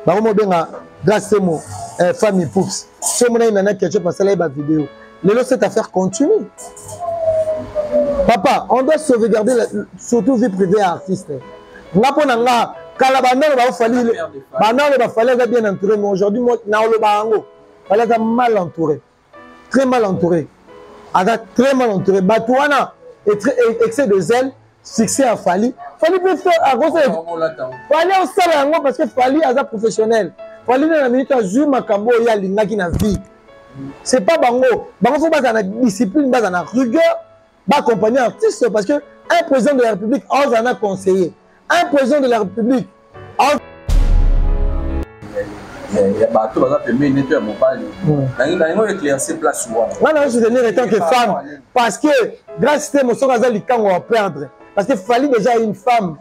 bango mobenga grace temo eh, famille poups so omonaki nana ketchup asala ye bavideo lelo cette affaire continue papa on doit sauvegarder la, surtout vie privée ya artiste nga mpo na nga kala bandalo baofali bandalo bafali aza bien entouré mais aujourd'hui naoloba yango fali aza mal entouré très mal entouré aza très mal entouré bato wana excès de zèle succès ya fali fali mpe fali osala yango parce que fali aza professionnel fali na na minute azwi makambo oyo ye alingaki na vie c'est pas bango bango fo bazala na discipline bazala na rigueur ba accompagner artiste parce que un président de la république aza na conseiller un président de la république ya bato baza pembeni nete ya mobali nango éclairci place wana nga nayo soutenir étant que femme parce que grace te mosoko aza likango ya perdre parce que fali déjà une femme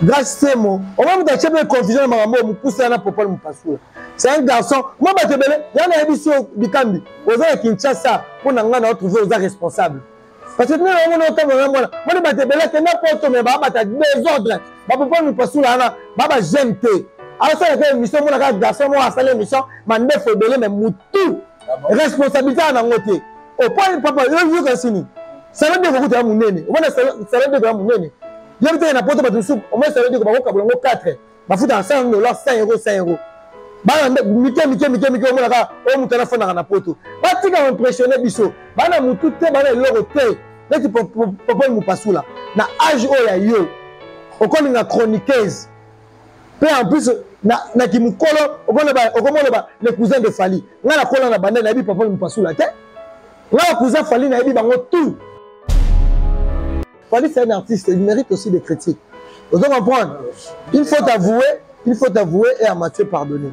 Grace Semo, on va me dire que confusion na makambo mukusa na popol mupasula. C'est un garçon, moi ba tebele, ya na yebiso bikambi, oza ya Kinshasa, po na nga na retrouver oza responsable. Parce que nous avons notre temps vraiment là. Moi ba tebele que n'importe mais ba bata désordre. Ba popol mupasula na ba ba j'aime te. Alors ça la émission moi na garçon moi asala émission, mande fobele mais mutu. responsabilité na ngo te oponi papa yo yo kasini salon de kokuta munene omona salon de ya munene yo bitaka na poto bato sup omona salon de ko bakokabola ngo 4 bafuta na 100 dollars 100 euros 100 euros bana mike mike mike mike omonaka oyo moto anafandaka na poto batika koimpressionne biso bana motu te bana eloko te neti popoli mopasula na age oyo ya yo okolinga chroniqueuse mpe en plus na, na kimokolo okomoloba le cousin de fali ngai nakola na banda nayebi papa mopasula te ngai cousin fali nayebi bango tout fali c'est un artiste il mérite aussi des critiques ozo comprendre il faut avouer il faut avouer et amathieu pardonner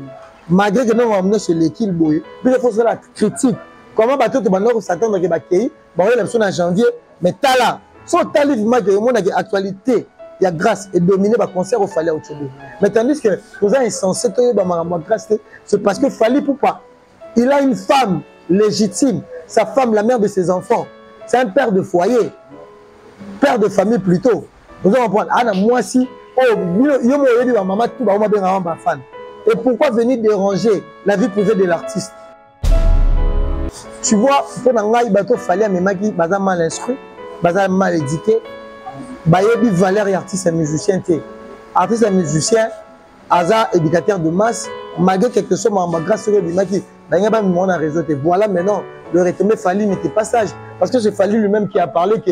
malgré que nongo nyonso eleki boye biso fo osala critique comment bato to bandaki kosatandake bakei baoyela biso na janvier mais tala so otali vimake omonake actualité ya grâce edomine baconcert ofali ya ocobo mais tandis que toza insensé toyeba makambo ya grâce te c'est parce que fali poupa il a une femme légitime sa femme la mère de ses enfants c'est un père de foyer père de famille plutôt oza comprendre ana mwasi oyo oh, yo mo oyebi bamama tu bango babengaka bafana et pourquoi venir déranger la vie privée de l'artiste tu vois mpo na ngai bato fali amemaki baza mal instruit baza mal éduqué bayebi valeur ya artiste ya musicien te artiste ya musicien aza éducateur de masse malgré quelque soit makambo grâce soki ebimaki balingi bamimona réseau te voilà maintenant le retombé fali n'était pas sage parce que c'est fali lui-même qui a parlé que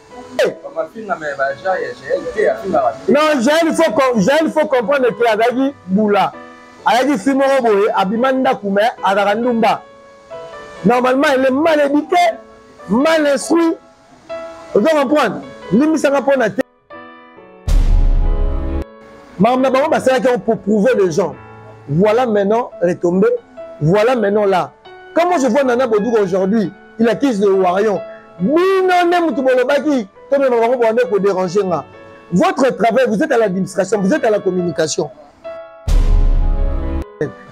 non jael faut jael faut comprendre que azalaki bula ayaki si moko boye abima ndako me azalaka ndumba normalement elle est mal éduquée mal instruit ozo comprendre limbisaka mpo na te makambo na bango basalaki yango pour prouver les gens voilà maintenant retombé voilà maintenant là comment je vois nana boduka aujourd'hui il accuse le warion bino nde motu bolobaki tomema bango bwande koderange nga votre travail vous êtes à l'administration vous êtes à la communication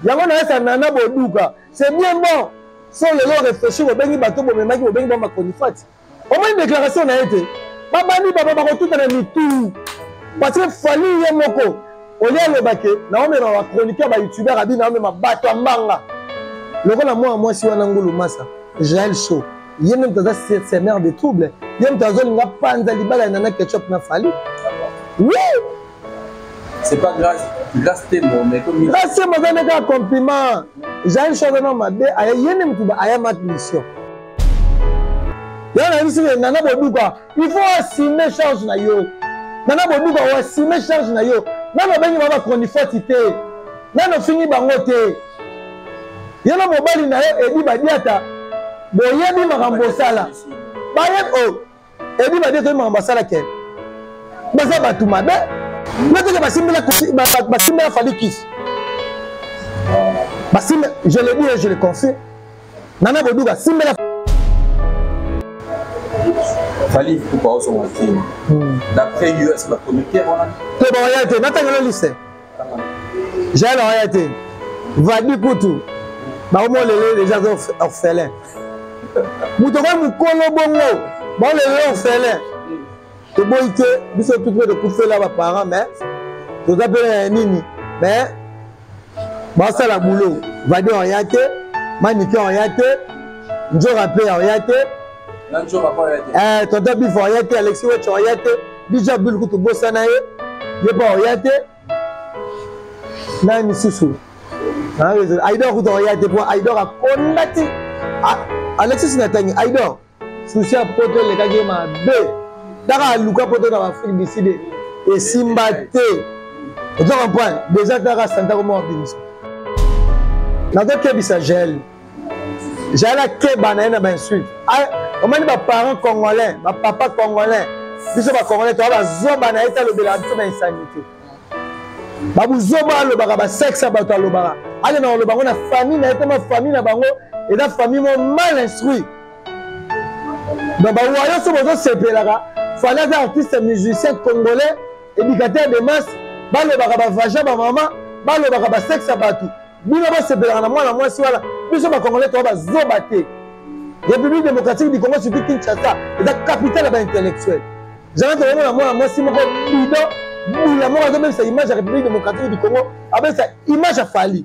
yango nayesa nana boduka c'est bien bon so lelo réfléchir bobengi bato bomemaki bobengi ba macronifati omoni déclaration na ye te babandi baba bakotutana mitu parce que fali ye moko olie aloba ke naomema ba chroniqueur ba youtubeur abi naomema bato ya mbanga lokola mwana mwasi wana ngulu masa jael show ye nde moto aza semeur de trouble ye moto azolinga panza libala ya nana ketchup na fali oui c'est pas grâce grâce temo mais comme grâce temo aza nde kaka compliment jael show aza na mabe aye ye nde moto ayamaki mission yana yebisi nana boduka il faut assume charge na yo nana boduka oassume charge na yo nano obengi bango bacronifoti te nano ofingi bango te ye na mobali na yo edi badiata boyebi makambo osala bayebi o oh, edi badiata oyebi makambo asala ke baza bato mabe noteke basimbela falikisi basimbe je le dis et je le confie Nana Boduga simbela Fallait pour pas son film. Hmm. D'après US la comité voilà. Te ba ya te natanga le liste. J'ai la ya te. Vadi kutu. Ba omo lele déjà orphelin. Mutoko mukolo bongo. Ba lele orphelin. toboyi te biso tutu mpe tokufela baparent mais toza mpe na nini mais basala bulo vadi oya te manike oya te njora mpe oya te eh, tonton bif oya te alexi wech oya te dija bul kutu bosana ye ye mpe oya te na misusu aidor kutu oya te mpo aidor akondati alexis natangi aidor susi ya poto elekaki ye mabe kaka aluka poto na baafrike du sud esimba te ozo comprendre deja kaka santa koma wabimisa nazokebisa jael jael akeba na ye na bainsulte omani baparent congolais bapapa congolais biso bacongolais toa bazoba na ye te alobelaka biso na insanité babuzoba alobaka basexe ya bato alobaka akenda koloba yango na famille na ye te ma famille na bango eza famille mo mal instruit donc bawayo so bozosepelaka fali aza artiste musicien congolais éducateur de masse balobaka bavagin bamama balobaka basexe ya bato bino bosepelaka na mwana mwasi wana biso bakongole toa bazoba te république démocratique du congo surtout kinshasa eza capitale ya baintellectuel zala tokomona mwana mwasi moko bidon bula moko azobebisa image ya république démocratique du congo abebisa image ya fali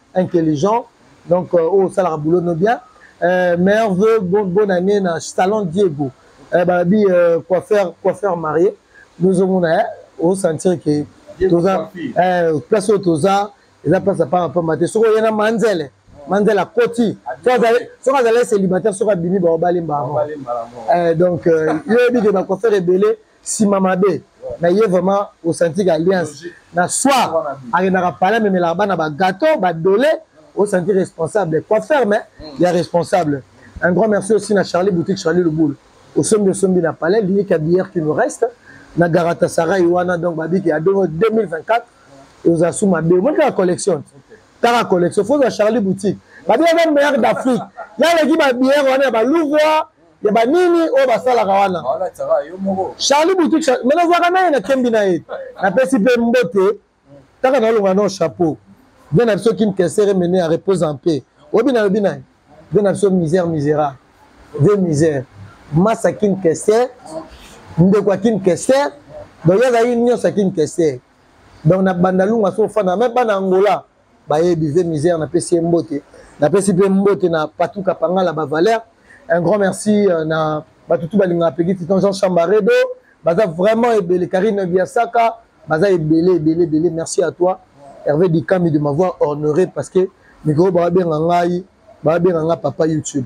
intelligent donc euh, oyo osalaka boulot no bien euh, meilleur vœu bon, bonne année na salon diego euh, balobi euh, coiffeur coiffeur marié nozomona eh, osentir ke toza eh, place oyo toza eza place ya pamba pamba te soki oye na manzele manzele akoti soki azali célibataire soki abimi baobali mbala donc euh, yo oyebi ke bacoiffeur ebele sima mabe na ye vraiment osanti ka alliance na soir akendaka pale amemelaka bana bagato badole osanti responsable coiffeur mais mm. ya responsable un grand merci aussi na charlie boutique charlie lubulu osombi osombi na palais liyika bière qui nous reste na garatasarai wana donc babiki ya 2024 oza su mabe omoni kaka collection kaka collection fozwa charlie boutique babiere meilleur d'afrique yaleki babiere wana ya balouvoir ya banini oyo basalaka wana charli boutique me nazwaka na ye na kembi na ye napesi mpe mbote kaka nalonga nao chapeau vie na biso kim kesere mene ya repose en paix oyebi nalobi na ye vie na biso misère misérable vie misère masa kim kesere ndeko ya kim kesere donc ye azalaki nyonso ya kim kesere donc na bandalunga so ofanda me bana angola baye bive misère napesi ye mbote napesi mpe mbote na patou kapangala bavaler un grand merci euh, na bato tu balingaka pegi titan jean chambaredo baza vraiment ebele karine biasaka baza ebele ebele ebele merci à toi hervé dikami de m'avoir honoré parce que mikolo babenga ngai babenga ngai papa youtube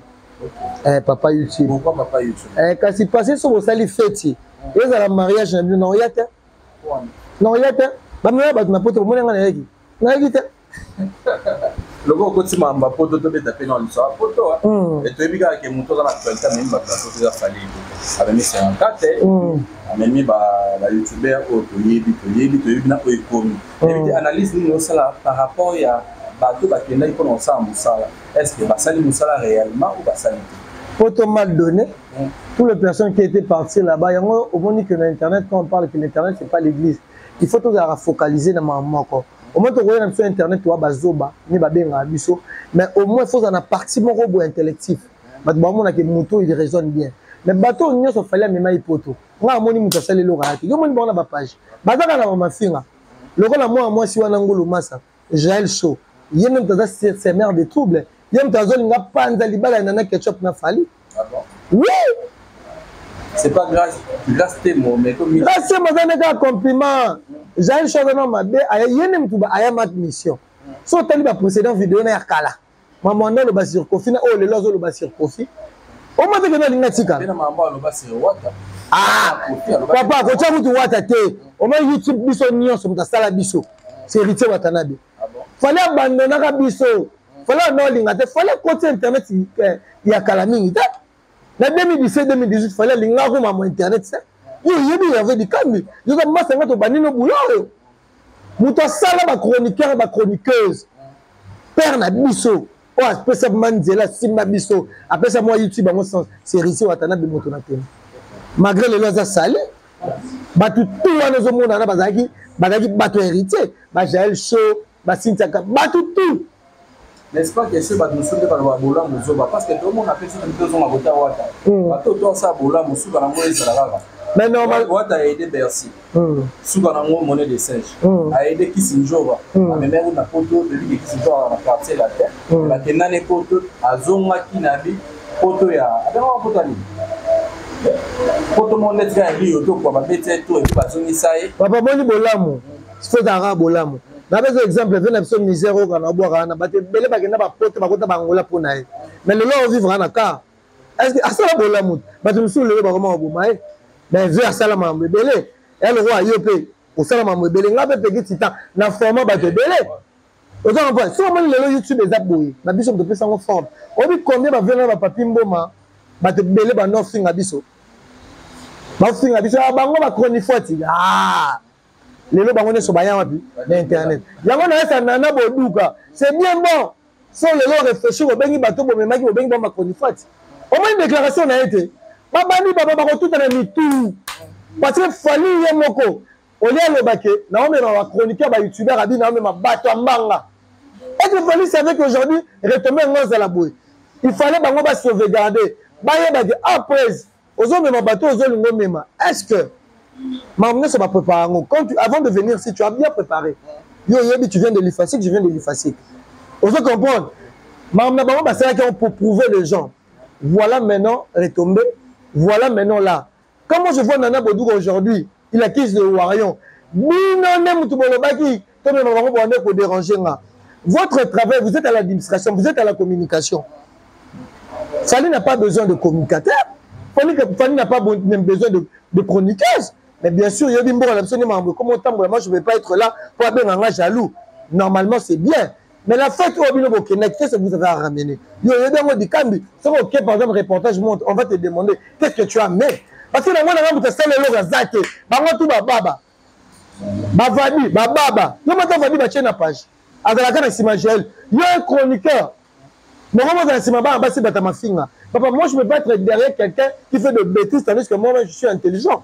eh, papa youtube pourquoi papa youtube eh, kasi passé soki osali feti ezala mariage na bino na oya te na oya te bamema bato na poto omoni ngai nayaki nayebi te loko okoti mamba poto tobeta mpe na liso apoto toyebi kaka ke moto oza na actualité amemi bato ya poto eza fali amemi senkate amemi bayoutubeur oyo toyebi toyebi toyebi na oyo ekomi yebi te analyse nini osala par rapport ya bato bakendaki mpona kosala mosala est ce que basali mosala réellement ou basali te poto mal donné pour les personnes qui étaient parties là-bas yango omoni que na internet quand on parle que l'internet c'est pas l'église il faut tozalaka focalise na makambo moko omoi tokoya na biso internet oya bazoba nde babengaka biso mais au moins fozala na parti moko boye intellectif bato bamonake moto oyo il raisonne bien mais bato oyo nyonso fali amema ye poto ngai amoni moto asali eloko ya te yo omoni bango na bapage bazaka na bamafinga lokola mwana mwasi wana ngulu masa Jael Show ye nde moto aza semeur de trouble ye moto azolinga panza libala ya nana ketchup na fali ah oui c'est pas grâce grâce temo mais comme grâce temo aza nde kaka compliment jael Show aza na mabe aya ye nde moto ayamaki mission so otali baprécédent video na ya kala Maman wana aloba sur Kofi na oyo lelo azoloba sur Kofi. Omata kende alinga tika. Bena maman aloba sur Wata. Ah, papa akotia kutu Wata te. Oma YouTube biso nyonso moto asala biso. C'est héritier Watanabe. Ah bon? Fallait abandonnaka biso. Fallait na olinga te. Fallait koti internet eh, ya kala mingi te. Na 2017 2018 fallait alinga ko maman internet te. Yo yebi ya vedi kambi. Yo ka masa ngato banino boulot. moto asala bachroniqueur bachroniqueuse père na biso oyo apesa ma nzela asimba biso apesa mwa youtube yango sens serisie watanabe moto na tena malgré lelo aza sali bato tu wana ezomonana bazalaki bazalaki bato ya héritier bajael show basintaka bato tu n'est-ce pas que chez badoso nde baloba bolamu zoba parce que tomona mpe soki mpe ozonga kota wata hmm. bato to asala bolamu suka na yango ezala kaka mais normal wata a aidé bercy hmm. suka na yango monnaie de singe hmm. a aidé kisinjora amemaki kuna poto eliki kisinjora na quartier la terre bakendani poto azongaki na bi poto ya abengaka poto ya nini poto moko neti kaka rio tokwa babeti ye to epi bazongisa ye bapamoni bolamu faut ezala kaka bolamu napesa exemple ve na biso misère oyo kana obwaka wana bato ebele bakenda bapoto bakota bangola mpo na ye mais lelo ovivre na car estce asala bolamu bato mosusu lelo bakoma baboma ye mais ve asala makambo ebele ya lokola yo mpe osala makambo ebele ngai mpe peki titan na forma bato ebele oza comprendre soki omoni lelo youtube eza boye na biso moto opesa yango forme oyebi combien bavie na bapapi mboma bato ebele banda ofinga biso bafinga biso ah, bango bachronifuati ah, lelo bango nyonso baya wapi na internet yango nayesa nana boduka c'est bien bon so lelo réfléchir obengi bato bomemaki bobengi bango bacronifati omoni déclaration na ye te babandi baba bakotuta na mitu parce que fali ye moko olie aloba ke naomema bachroniqueur bayoutubeur abi naomema bato ya mbanga ete fali savait qu'aujourd'hui retombe yango azala boye il fallait bango basauvegarde bayebake après ozomema bato oyo ozolinga omema est ce que makambo nyonso baprépare yango quand tu, avant de venir si tu as bien préparé yo oyebi tu viens de l'ifasique je viens de l'ifasique ozo comprendre makambo na bango basalaki yango pour prouver les gens voilà maintenant retombé voilà maintenant là comment je vois nana boduka aujourd'hui il accuse le warion bino nde motu bolobaki tomema bango bwande koderange nga votre travail vous êtes à l'administration vous êtes à la communication fali n'a pas besoin de communicateur fali n'a pas besoin de, de chroniqueuse mais bien sûr yebi mboka na biso nde makambo ekoma otambola moi je ne vais pas être là mpo abenga nga jaloux normalement c'est bien mais la fête oyo bino bokendaki qu'est ce que vous avez à ramener yo oyebi yango dikambi soki oke par exemple reportage monte on va te demander qu'est ce que tu as mais parce que nango nanga moto asala eloko aza te bango tu bababa bavadi bababa yo mata vadi batie na page azalaka na nsima jael yo un chroniqueur bango bozala nsima bana basi bata mafinga papa moi je peux pas être derrière quelqu'un qui fait de bêtises tandis que moi je suis intelligent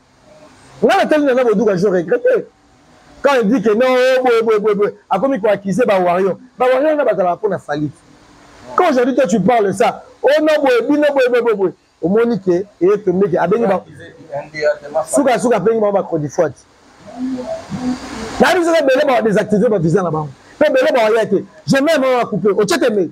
nga natali nana boduka je regrette quand il dit que non oh, boye boye boye boye akomi koaccuse bawarrior bawarrior nga bazalaka mpo na falite quand aujourd'hui toi tu parles ça o oh, no boye bino boye boye boye boye omoni ke eye tombe ke abengi suka suka abengi bango bacrodifoite nayebi soki ebele bawa désactive bavisa na bango mpe ebele bawaya te jamais mama coupe otie temei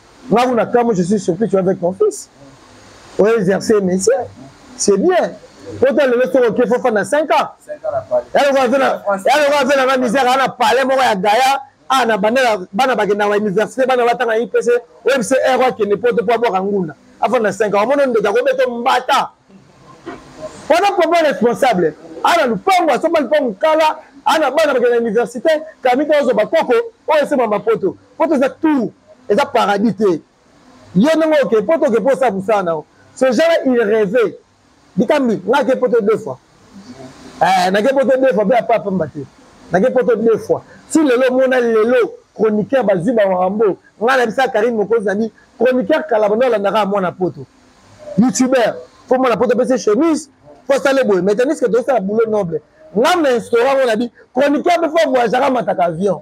Là où Nakamo, je suis surpris, tu es avec ton fils. Pour exercer le métier, c'est bien. Quand tu as le métier, il faut faire 5 ans. Elle va faire la même misère, elle a parlé, moi, à Gaïa. Ah, na bana bana bakenda wa université bana batanga IPC OMC error eh, qui ne peut pas boire ngunda avant na 5 ans mono ndoka ko beto mbata wana papa responsable ana lupango asomba lupango kala ana bana bakenda université kamita ozo bakoko oyo esema mapoto poto eza tour eza paradis te yo ndenge oke poto oke mpo osala mosala na yo ce genre il rêve bikambi nga ake poto deux fois eh, nake poto deux fois mpe apa apamba te nake poto deux fois si lelo omona lelo chroniqueur bazwi bawarambo nga na bisa karine mokonzi nani chroniqueur kala banda olandaka mwana poto youtubeur fo mwana poto apesi chemise fo asale boye mais tandis que tozosala boulot noble nga na instaura ngo na bi chroniqueur mpe fo voyagaka mataka avion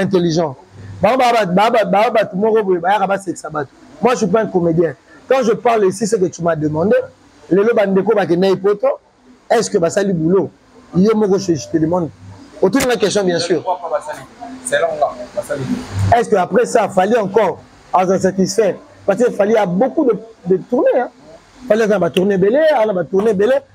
intelligent baa bato moko boye bayaka basekisa bato moi je suis pas un comédien quand je parle ici ce que tu m'as demandé lelo bandeko bakendaki poto est ce que basali boulot yo moko je te demande otuni nga question bien sûr est ce que après ça fali encore aza satisfait parce que fali a beaucoup de, de tourné hein. fali aza na batourne ebele aza na batourne ebele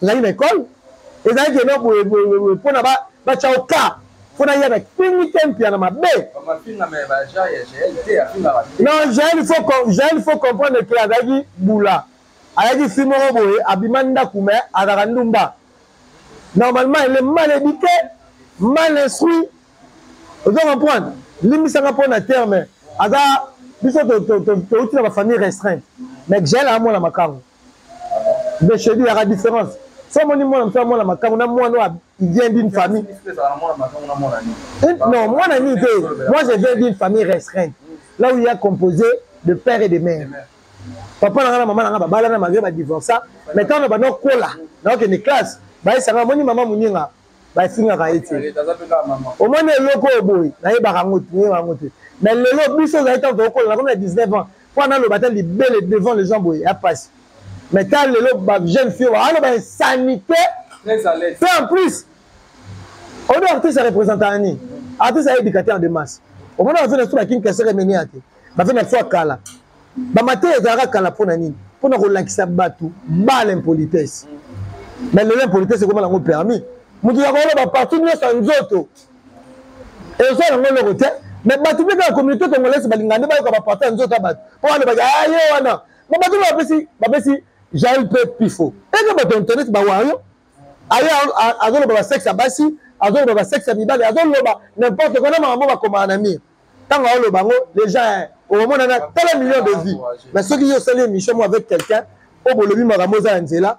tozali na ekole ezalaki eno boye boye mpona batya oka mpo naya na kingi te mpia na mabe non jael faut comprendre ke azalaki bula ayaki fi moko boye abima ndako me azalaka ndumba normalement ele mal éduqué mal instruit ozo comprendre limbisanga mpo na terme aza biso touti na bafamille restreinte mais jael amona makango beshedi yaka différence so omoni mwana mosusu amona makambo na mwana oyo il vient d'une famille non mwana nini te moi je viens d'une famille restreinte là où il y a composé de père et de mère papa na nga na mama na nga babalana malgré badivorça mais ntango na banda okola naokende classe bayesanga omoni mama moninga bafingaka ye te omoni eloko oyo boye nayebaka yango te nayebaka yango te mais lelo biso ozali ntango tokokola nakomi na 19 ans mpo analoba ata libele devant les gens boye ya mpasi mais ta lelo bajeune fille oyo aloba insanité mpe en plus oyo artiste ya représente ya nini artiste ayebika te en de masse omoni bavena biso bakini kesere emeni ya te bavena biso ya kala bamateya ezalaka kala mpo na nini mpo na kolakisa bato bala impolitesse mais lelo impolitesse ekoma nango permis moto ya koloba partout nyonso ya nzoto ezo yango eloko te mais bato mpe kaka communauté congolaise balingaka nde bayoka baparti ya nzoto ya bato mpo balobaka aye ah, wana ma bato mpe bapesi bapesi jael mpe pifo eke bato ya internet bawario aye azoloba basexe ya basi azoloba basexe ya mibale azoloba n'importe kona makambo bakomaka na mire ntango aoloba yango deja eh, okomona na tala million de vie mais soki yo osali émission mo avec quelqu'un oyo bolobi makambo oza ya nzela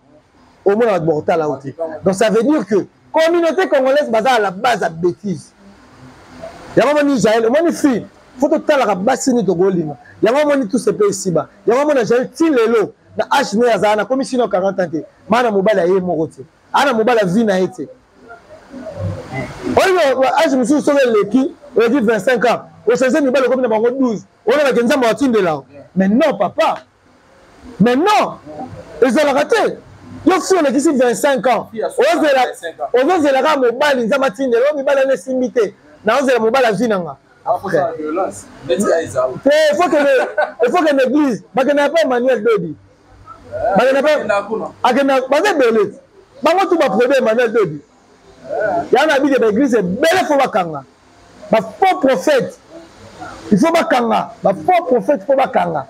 omona bato bakotala yo te donc ça veut dire que communauté congolaise baza à la base ya bétise yango omoni israel omoni fille fo totalaka basi nini tokolinga yango omoni tout sepe esiba yango omona jael ti lelo na hne azala nakomi sino 40 ans te maa na mobali aye moko te ana mobali azwi na ye te oyo age mosusu soki eleki oleki 25 ans ochange mibali okomi na bango 12 olobaki nzambe atindela mais non papa mais non ezalaka te yo fi olekisi 25 ans ozozela kaka mobali nzambe atindela oyo mibali ana esimbi te naozela mobali azwi na nga te efo kende eglise bakenda ya pa emmanuel dodi bakenda akenda baza ebele bango tu baproduit emmanuel dodi yango na bike baeglise ebele fo bakanga bafaux prophète il faut bakanga bafaux prophète fo bakanga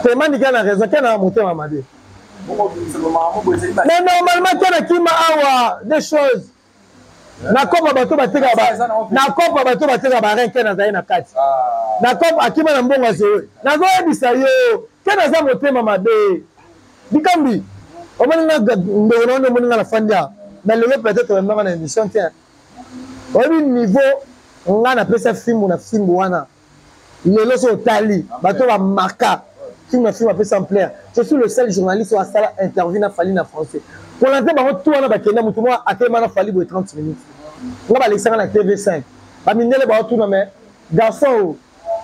te manike na raison kena na motema mabe mais normalement kena kima awa des choses na kopa bato bateka na kopa bato bateka barin ken azali na kati ah. na kopa akima na mbongo azowe nazoyebisa yo ken aza motema mabe likambi omoni nga ndeko na wana omoni nga na fandi a na lelo peut-être oyambanga na émission te oyebi niveau nga napesa fimbu na fimbu wana lelo so otali bato bamaka film na film apesa ampleur je suis le seul journaliste oyo asala interview na fali na français kolante bango tu wana bakenda motu moko atelema na fali boye 30 minutes nga balekisanga na tv 5 bamindele baotuna me garçon oyo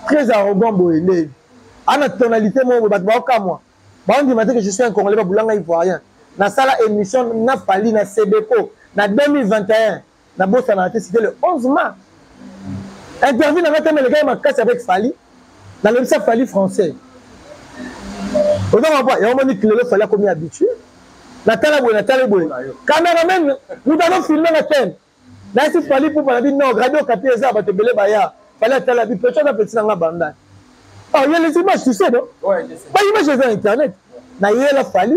très arrogant boye nde ana tonalité moko boye bato baokamwa baondima te que je suis un congolais babulanga ivoirien nasala émission na fali na sebeco na 2021 nabosanaka te c'était le 11 mars interview na ngai teme elekaki makasi avec fali nalobisa fali français oza mabwa yango moni kilelo fali akomi habitue natala boye natali boye cameraman moto azofilme na teme nayesi fali pupa na bi non radio kapi eza bato ebele baya fali atala bi peto aza peti na ngai bandani oh, il y a les images tu sais non ouais, ba images eza na internet nayela fali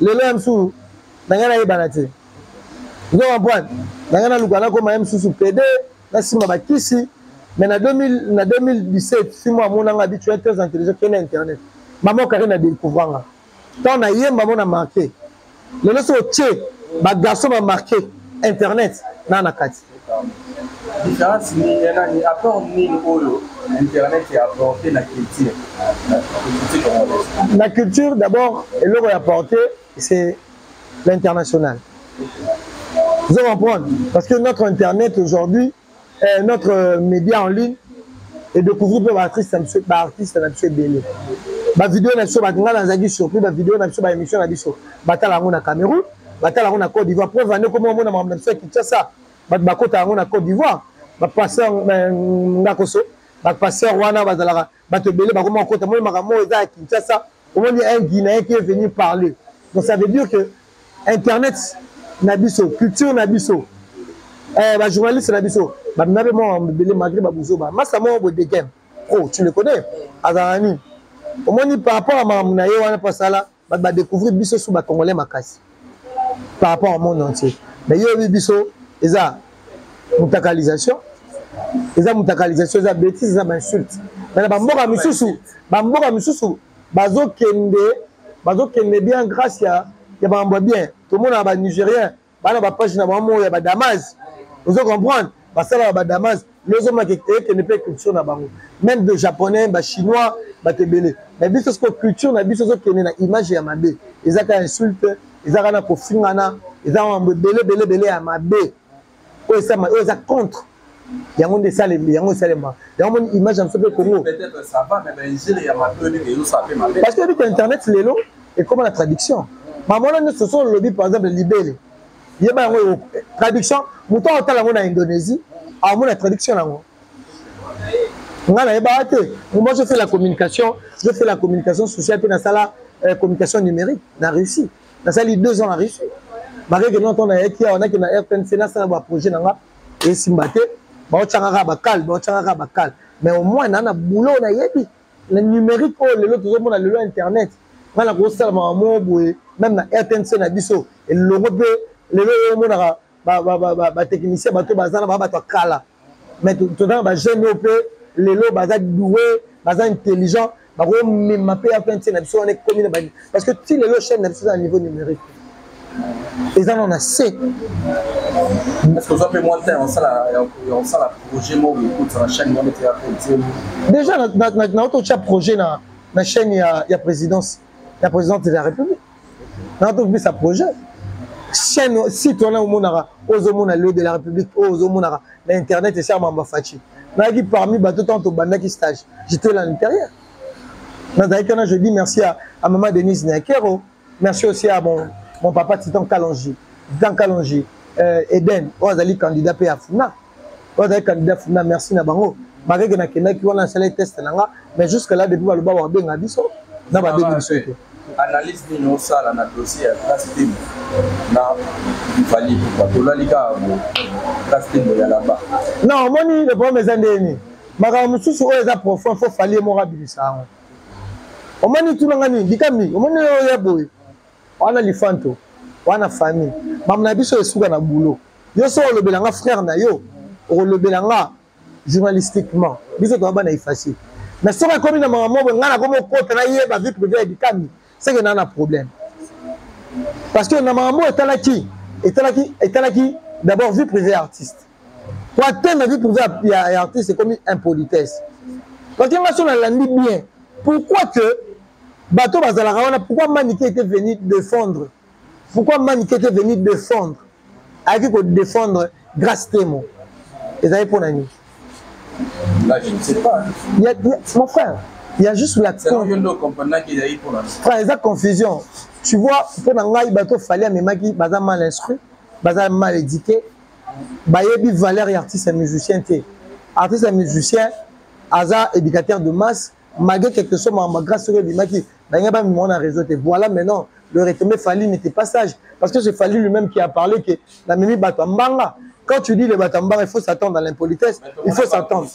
lelo ya mosusu na ngai nayebana te ozo comprendre na ngai naluka nakoma ye mosusu pede nasimba bakisi mais na 2000 na 2017 simo amona nga bitu très intelligent kende internet mama okaki na découvra nga ntango nayemba mona marke lelo so otie bagarçon bamarke internet naa na kati différence nini ya nani apport nini oyo internet ya apporte na culture na culture d'abord eloko ya porte c'est l'international vous comprendre parce que notre internet aujourd'hui eh, notre média en ligne et découvrir mpe baartiste na biso baartiste na biso ebele bavideo na biso ngai nazalaki surpris bavideo na biso baémission na biso batala yango na cameroun batala yango na Côte d'Ivoire preuve ande komona mona makambo na biso ya Kinshasa bato bakota yango na Côte d'Ivoire bapasteur euh, ngakoso bapasteur wana bazalaka bato ebele bakoma kokota moni makambo oyo eza ya Kinshasa omoni un Guinéen qui est venu parler donc ça veut dire que internet na biso culture na biso eh, bajournaliste na biso bamina mpe mwa mabele malgré babuzoba masa moko bodekem o oh, tu le connais azalaka nini omoni par rapport ya makambo na ye wana mpo asala bato ba découvrir biso sous ba congolais makasi par rapport au monde entier mais yo oyebi biso eza mutakalisation eza mutakalisation eza bétise eza bainsulte mais na bamboka misusu bamboka misusu bazokende bazokende bien grâce ya ya makambo ya bien tomonaka banigérien bana bapage na bango moko ya badamage ozo comprendre basalaka badamage lozomaka ekende mpe culture na bango meme de japonais bachinois bato ebele mais biso siko culture na biso ezokende na image ya mabe eza kaka insulte eza kaka na kofingana eza mambo ebele ebele ebele ya mabe oyo eza contre yango nde esalema yango esalema yango moni image ya biso mpe congo parce que yebite internet lelo ekoma na traduction mamona nyonso so olobi par exemple libele yeba yango traduction moto akotala yango na indonésie amona traduction yango ngai nayebaka te moi je fais la communication je fais la communication sociale mpe nasala euh, communication numérique na russie nasali deux ans na russie malgré que longtemps nayaki awa nake na rtnc nasala baprojet na nga esimba te baotyaka kaka bakale baotyaka kaka bakale mais au moins naa na boulot nayebi na numérique oyo lelo tozomona lelo internet ngai nakosala mama moko boye meme na rtnc na biso elongo mpe lelo oyo omonaka batechnicien bato baza na baa bato ya kala mais tozana bajeune oyo mpe lelo baza doue baza intelligent bakomema mpe ya pente na biso wana ekomi na bani parce que ti lelo chaîne na biso eza na niveau numérique eza na na se déjà naototya projet na chaîne ya présidence ya présidente de la république na tokobisa projet chaîne site wana omonaka ozomona lio de la république oyo ozomonaka na internet esi amamba faci nayaki parmi bato ntango tobandaki stage j'étais là l'intérieur nazalaki wana je dis merci à, à maman denise nakero merci aussi à mon, mon papa titan kalongi titan kalongi euh, eden oyo azali candidat mpe ya funa oyo azali candidat funda merci na bango makeke nakendaki wana asalaki teste na nga mais jusque là depuis baloba bakobenga biso na babengi biso te analyse nini osala na dossier ya classe temo na fali pupa tolali kaka bo classe temo ya laba na omoni le problème eza ndenge nini makambo mosusu oyo eza profond fo fali ye moko abimisa yango omoni tuna nga nini bikambi omoni oyo ya boye wana lifanto wana famille mamu na biso esuka na boulot yo so olobela nga frère na yo okolobela nga journalistiquement biso toza bana efface mais soki ekomi na mama mobo ngai nakomi okota nayeba vie privé ya dikami seke naa na problème parce que na mama mobo etalaki etalaki etalaki d'abord vie privé ya artiste po atteindre vie privé ya artiste ekomi impolitesse parce que ngai so nalandi bien pourquoi que bato bazalaka wana pourquoi manike ete venu défendre pourquoi mani keke venu défendre ayaki kodéfendre grace temo ezali mpo na nini mon frère il y a juste la frère eza confusion tu vois mpo na ngai bato fali amemaki baza mal instruit baza mal éduqué bayebi valeur ya artiste ya musicien te artiste ya musicien aza éducateur de masse malgré quelque chose ma grâce soki ebimaki balinga bamimao na réseau te voilà maintenant le retombé fali n'était pas sage parce que c'est fali lui-même qui a parlé que namemi bato ya mbanga quand tu dis le bato ya mbanga il faut s'attendre à l'impolitesse il faut s'attendre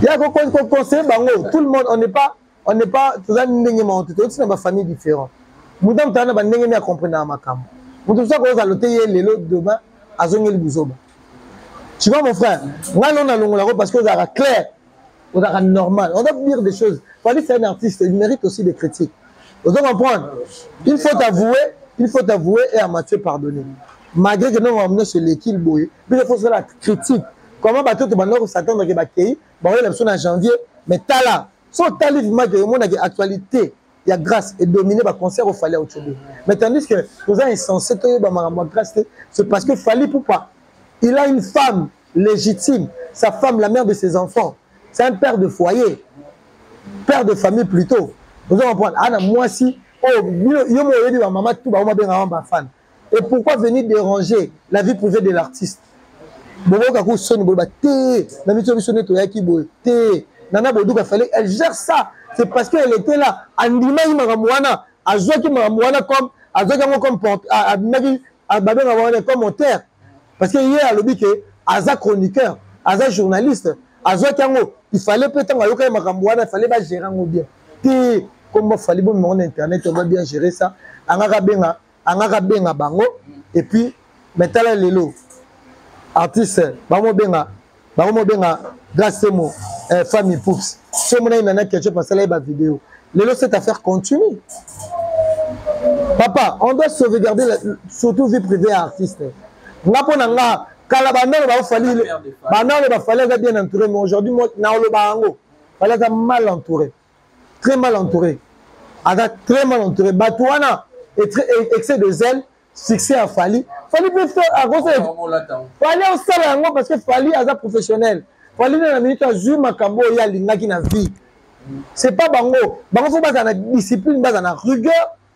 ya koconseille bango tout le monde on n'est pas on n'est pas toza ndenge moko te toyoti na bafamille différent moto amotala na bandenge nde akomprenaka makambo moto mosusu akozala te ye lelo demain azongeli buzoba tu vois mon frère ngai lona longolako parce que ozalaka claire ozalaka normal on doit dire des choses fali c'est un artiste il mérite aussi des critiques ozo comprendre il faut t'avouer il faut t'avouer et amatue pardonner malgré que nongo nyonso eleki boye biso faut osala critique comment bato oyo tobanda kosatendre ke bakei bakoyela biso na janvier mais tala so otali vimake omonake actualité ya grâce edomine baconcert ofali ya ocobe mais tandis que toza insensé toyeba makambo ya grâce te c'est parce que fali poupa il a une femme légitime sa femme la mère de ses enfants c'est un père de foyer père de famille plutôt oza comprendre ana mwasi oyo yo mo oyebi bamama tu bango babengaka bafana et pourquoi venir déranger la vie privée de l'artiste boboka ko soni boloba te na miso biso nde toyaki boye te nana boduka fallait elle gère ça c'est parce que elle était là andimaki makambo wana azwaki makambo wana comme azwaki yango comme abimaki babengaka wana commentaire parce que ye alobi ke aza chroniqueur aza journaliste azwaki yango il fallait mpe ntango ayokaki makambo wana il fallait bagere yango bien te comme bafali bomema ngo na internet on va bien gérer ça angaka abenga angaka benga bango et puis mais tala lelo artiste bango benga bango mo benga grace temo eh, famille poups so mona ye nana ketchup asala ye ba vidéo lelo cette affaire continue papa on doit sauvegarder la, surtout vie privée ya artiste nga mpo na nga kala bandalo bafali bandalo bafali aza bien entouré mais aujourd'hui naoloba yango fali aza mal entouré très mal entouré aza très mal entouré bato wana excès de zèle succès ya fali fali mpe fali osala yango parce que fali aza professionnel fali na na minute azwi makambo oyo ye alingaki na vie c'est pas bango bango fo bazala na discipline bazala na rigueur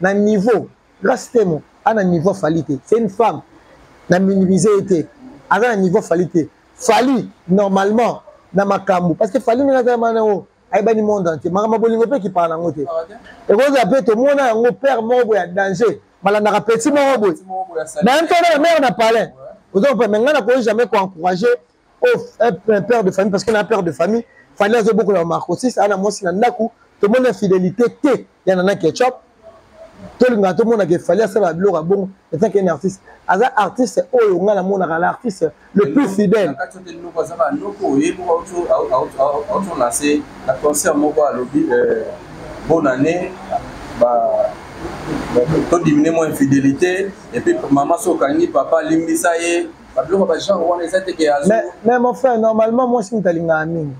na niveau grace temo a na niveau fali te c'est une femme na minimise ye te aza na niveau fali te fali normalement na makambo parce que fali ndenge azala mana yango ayebani monde entier makambo bolingo mpe ekipaka na yango te ekozala mpe tomona yango père moko boye ya danger balandaka petit moko boye na mpe na mare na palin oza mpe me ngai nakoki jamais koencourage oh, un père de famille parce que na père de famille fani azobokola marcosis ana mwasi na ndako tomoni infidélité te ya nana ketchup tolingaka tomonaka efali asala biloko ya bongo etant qu'un artiste aza artiste oyo ngai namonaka na artiste le plus fidèle aotolanse na concert moko alobi euh, bonne année todimine mwa infidélité epuis mama soki okangi papa alimbisa ye babiloko ba genre wana eza te ke azo mais mais mon frère normalement moi si mutalinga amini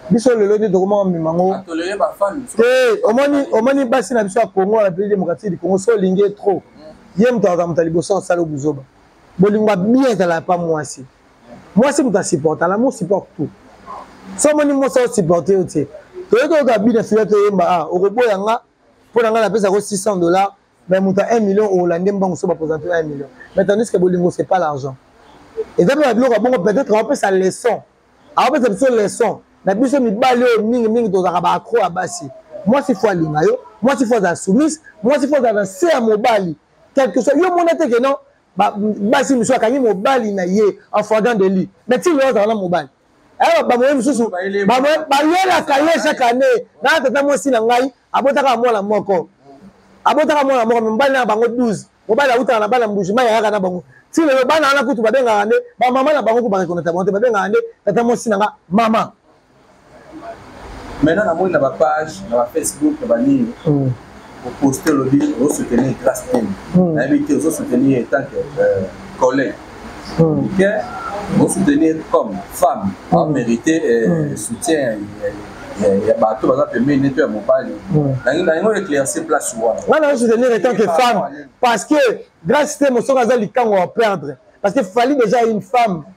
biso lelo nde tokomaka mema ngo ah, te omoni omoni basi na biso ya congo na peli démocratique du congo so olingi ye trop mm. ye moto akamata liboso asala obuzoba bolingo ya bien ezalaka pa mwasi mwasi moto asupporte ala mo supporte tout so omoni mwasi osupporte yo te toyeki oyoka bina fila toyemba a ah, okoboya nga mpo na ngai napesa ko 600 dollars mais moto ya 1 million oholande mbango so bapresente yo 1 million mais tandis que bolingo c'est pas l'argent eza mpe babiloko ya bongo peut-être aopesa leçon aopesa biso leçon na biso mibali oyo mingi mingi tozalaka baacro ya basi mwasi fo alinga yo mwasi fo azala soumise mwasi fo azala na se ya mobali quelque soit yo mona te ke non basi mosusu akangi mobali na ye en fwagant de lui mais ti lelo azala na mobali Eh, bamoye mosusu bayelaka ye chaque année na tata mwasi na ngai abotaka mwana moko abotaka mwana moko mibali na bango 12 mobali awutaka na bana mbujima yayaka na bango ti lelo bana wana kutu babengaka nde bamama na bango kubarekonata bango te babengaka nde tata mwasi na nga mama maintenant namoni na bapage na bafacebook na banini hmm. oposite olobi ozosoutenir grace teni hmm. nayebi te ozosoutenir ye tant que euh, collègue hmm. ke ozosoutenir comme femme hmm. amérite euh, soutien ya bato baza pembeni neto ya mobali nango éclairci place wana nga na soutenir etant que femme parce que grace temo soki aza likango ya perdre parce que fali déjà une femme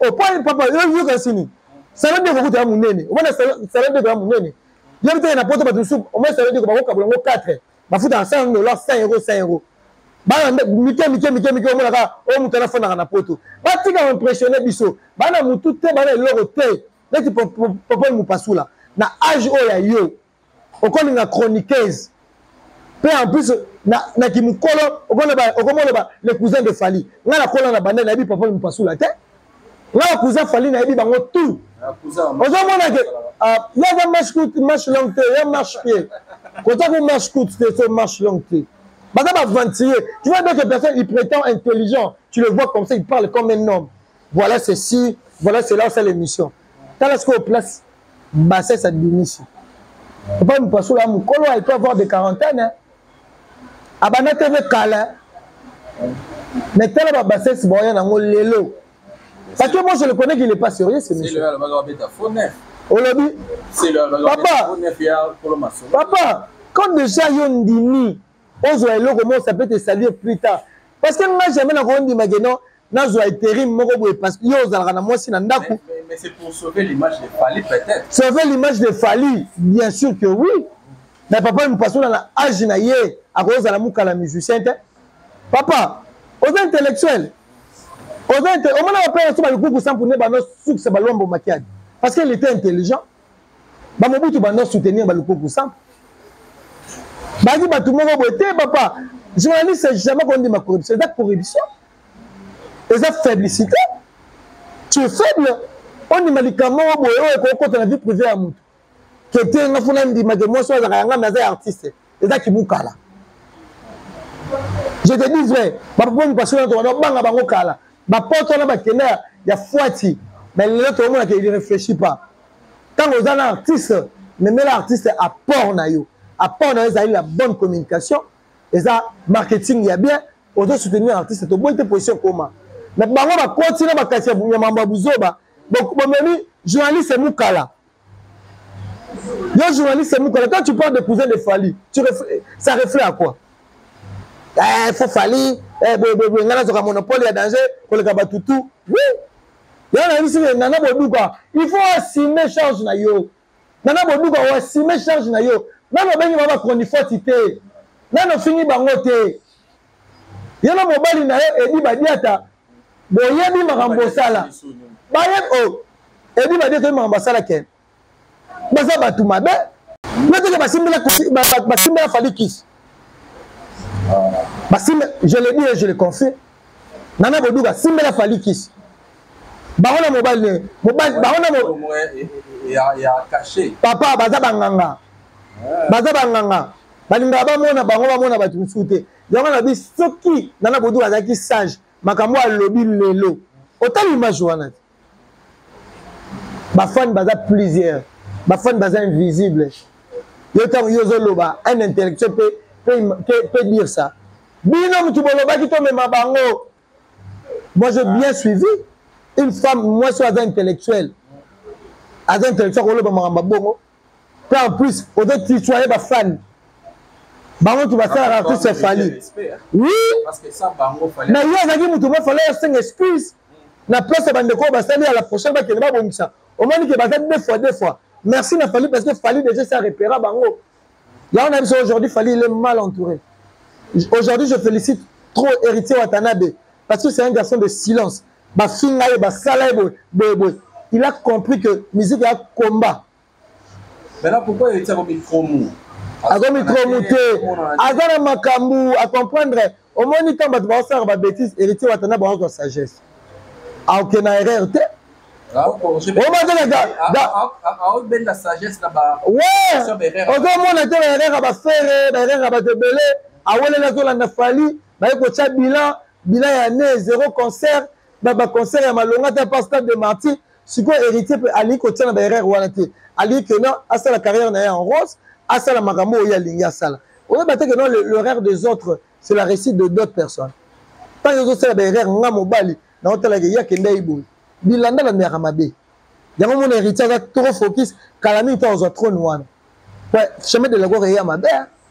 opoi papa yoka sini salon de kokuta ya monene omona salon de ya monene yebi teke na poto bato mosusu omona salon de bakokabola yango 4 bafutaka 100 dollar 100 euro 100 euro bana mike mike mike mike omonaka oyo moto anafandaka na poto batika impressionne biso bana motu te bana eloko te neti popole mopasula na age oyo ya yo okolinga chroniqueuse mpe en plus na, na kimokolo okomoloba le cousin de fali ngai nakola na banda nayebi papa mopasula te ngai na cousin fali nayebi bango tout ozomona ke ah, yaza marche coute marche longue te ya marche pied kota ko marche coute te so marche longue te baza baventurier tu vois d'autres personnes il prétend intelligent tu le vois comme ça il parle comme un homme voilà ceci voilà cela osala émission tala sikoyo place bassesse abimisi epai mopasolo ya mokolo il peut avoir de quarantaine abanda tv kala mais tala babassesse baoya nango lelo parce que moi je le connais qu'il est pas sérieux ce monsieur olobi papa papa quand déjà yo ndimi ozwa eloko moko ça peut te saluer plus tard parce que nga jamais nakoki ndima ke non nazwa eterim moko boye parce que yo ozalaka na mwasi na ndako sauver l'image de fali bien sûr que oui mais papa mopasona na age na ye akozala mokala musicien te papa oza intellectuel oza omona bapaya so balikuku sampune banosukisa balombo makiadi parce qu'il était intelligent ba mobutu bando soutenir ba lukuku sa bazali bato moko boye te papa journaliste jamais kondima corruption eza corruption eza faiblicité tu es faible ondima likambo moko boye oyo ekokota na vie privé ya moto kete nga funa ndima ke mwasi oyo azalaka yanga me aza artiste eza kibukala je te dis vrai bapoponi pasio na tokana obanga bango kala bapote wana bakenda ya fuati mais lelo tokomona ke il réfléchit pas ntango oza na artiste memela artiste apport na yo apport na yo ezali la bonne communication eza marketing ya bien ozo soutenir artiste toboyi te position koma mais bango bakoti na bakati ya mambo ya buzoba bomemi journaliste mukala Yo journaliste Mukala, quand tu parles de cousin de Fali, tu reflè... ça reflète à quoi Eh, faut Fali, eh, boye boye boye, ngana zoka monopole ya danger, koleka batutu. Oui. Ya na yisi nana boduka, il faut assumer charge na yo. Nana boduka o assumer charge na yo. Nana obengi baba chronifuati te. Nana ofingi bango te. Ye na mobali na ye Edi Badiata boyebi makambo bosala bayebi o oh, ebi babi ekoyebi makambo basala ke baza bato mabe noteke basimbela fali kisi basimbe je le dis et je le confie nana boduka simbela fali kisi bango na mobali ne mobali bango na eh, eh, eh, papa baza banganga baza banganga balingaka bamona bango bamona bato mosusu te yango na bi soki nana boduka azalaki sage makambo oyo alobi lelo otali image wana te bafani baza plusieurs bafani baza invisible yo ntango yo ozoloba un intellectuel peut dire ça bino motu bolobaki tomema bango moi j'ai bien suivi une femme mwasi oyo aza intellectuel aza intellectuel akoloba makambo bongo mpe en plus ozo tutoye bafani bango tu basalaka tout se fali oui mais yo azalaki moto bafala osenga excuse na place ya bandeko oyo basali ya la prochaine bakende babongisa omoni ke baza deux fois deux fois merci na fali parce que fali déjà sa repera bango yango na biso aujourd'hui fali il est mal entouré aujourd'hui je félicite trop héritier watanabe parce que c'est un garçon de silence bafinga ye basala ye boye boye boye il a compris que musique ya combat maintenant pourquoi il tient micro mou aza micro mou te aza na makambo a comprendre omoni ntango bato baosalaka babétise héritier watana baokozwa sagesse aoke na erreur te ozomona te baerreur ya bafere baerreur ya bato ebele aweleli azolanda fali baye kotya bilan bilan ya ne zero concert ba concert ya malonga ata pa stade de martyr sikoyo héritier mpe alingi kotia na baerreur wana te alingi ke non asala carrière na ye en rose asala makambo oyo ye alingi asala oyeba te ke non l'erreur des autres c'est la réussite de d'autres personnes ntango ezosala baerreur nga mobali naotalaka ye akendaki boye bilanda bandeyaka mabe yango mona héritier aza trop focus kala mingi to azwa trone wana chemin de la gloire eya mabe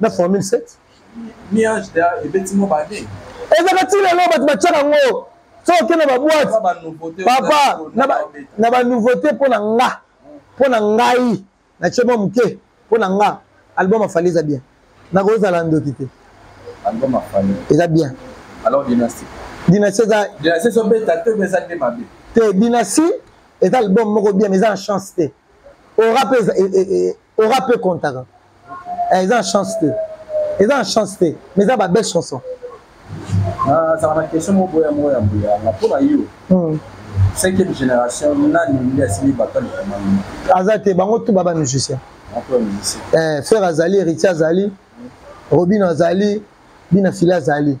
na formule 7 ezaka ti lelo bato batyaka yango soki okende baboite papa na banouveauté mpo na nga mpo na ngai natye mwa moke mpo na nga album afali eza bien nakozala ndoki te eza bien dynastie eza te dynastie eza album moko bien mais eza na chance te ora mpe ora mpe contaka eh, eza na chance te eza na chance te mais eza babelle chanson nazala na question moko boya moko ya mbuyanga mpo na yo hmm. cinquième génération nani nde asili bato alikamani aza te bango tu baba musicien eh, frère azali héritier azali robino azali bina fili azali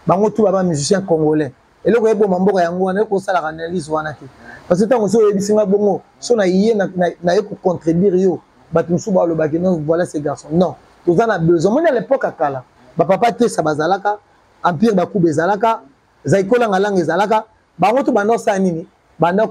bango tu baba musicien congolais eloko eboma mboka yango wana ekosalaka analyse wana te parce que ntango soki oyebisi nga bongo so na ye naye kocontredire yo bato mosusu balobaki non voilà ce garçon non toza na besoin moni à l'époque ya kala bapapa tesa bazalaka empire bakuba ezalaka zaikolanga langa ezalaka bango to banda osala nini banda